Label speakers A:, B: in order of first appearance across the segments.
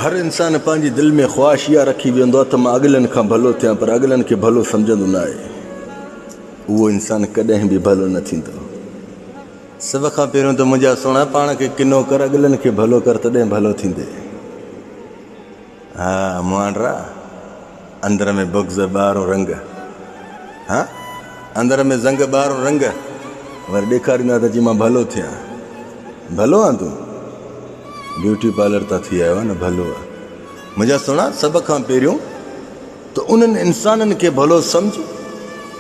A: هر انسان پنهنجي دل ۾ خواهش اها رکي ويهندو آهي ته مان اڳلن کان ڀلو ٿيان پر اڳلن کي ڀلو سمجهندو نه آهي اهو انسان ڪڏهن به ڀلو نه ٿيندو. سڀ کان پهريون ته منهنجا سهڻا پاڻ کي ڪنو ڪر اڳلن کي ڀلو ڪر تڏهن ڀلو ٿيندي. ها مهانڊرا. اندر ۾ بغض ٻاهرون رنگ. ها اندر ۾ زنگ ٻاهرون رنگ. وري ڏيکاريندو آهي ته جي مان ڀلو ٿيان. ڀلو آن تون؟ بيوٽي پارلر تان ٿي آيو آهي نه ڀلو آهي. منهنجا سهڻا سڀ کان پهريون ته انهن انسانن کي ڀلو سمجھ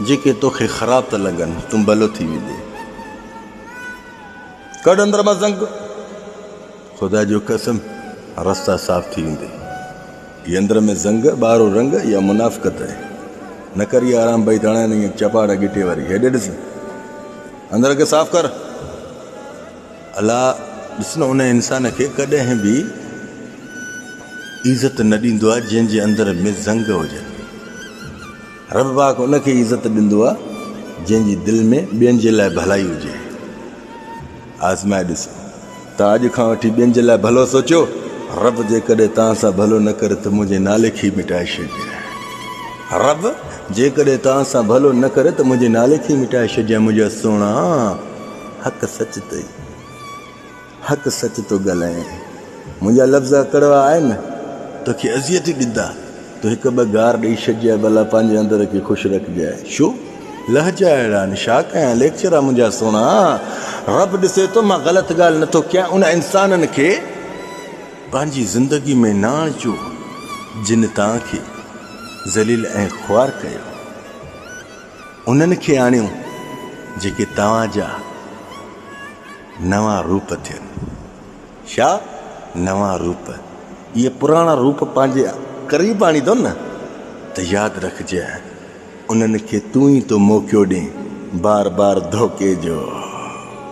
A: جيڪي توکي خراب ٿا لڳن تون ڀلو ٿي ويندين. ڪڍ اندر مان زنگ. خدا جو قسم رستا صاف ٿي ويندي هي اندر ۾ زنگ ٻاهرو رنگ يا منافقت اهي نه ڪر يا آرام بئي ڌڻا نه چپاڙا گٽي واري هيڏي ڏس اندر کي صاف ڪر الا ڏس نه ان انسان کي ڪڏهن به عزت نه ڏيندو آهي جنهن جي اندر ۾ زنگ هجن رب پاڪ ان کي عزت ڏيندو آهي جنهن جي دل ۾ ٻين جي لاء ڀلائي هجي آزمائي ڏسو ته اڄ کان وٺي ٻين جي لاء ڀلو سوچيو، رب جيڪڏهن توهان سان ڀلو نه ڪري ته منهنجي نالي کي ئي مٽائي ڇڏجانء. رب جيڪڏهن توهان سان ڀلو نه ڪري ته منهنجي نالي کي ئي مٽائي ڇڏجانء منهنجا سهڻا، حق سچ ٿئي، حق سچ ٿو ڳالهائين. منهنجا لفظ ڪڙوا آهن، توکي اذيت ئي ڏندا. تون هڪ ٻه گار ڏئي ڇڏجانء، ڀلا پنهنجي اندر کي خوش رکجانء. ڇو لهجا اهڙا آهن، ڇا ڪيان ليڪچرر منهنجا سهڻا! رب ڏسي ٿو، مان غلط ڳالهه نه ٿو ڪيان. انهن انسانن کي پنهنجي زندگيء ۾ نه آڻجو، جن توهان کي ذليل ۽ خوار ڪيو. انهن کي آڻيو، جيڪي توهان جا نوان روپ ٿين. ڇا نوان روپ اهي پراڻا روپ پنهنجي قريب آڻيندو نه ته ياد رکجي انهن کي تون ئي ٿو موقعو ڏين بار بار ڌوڪي جو.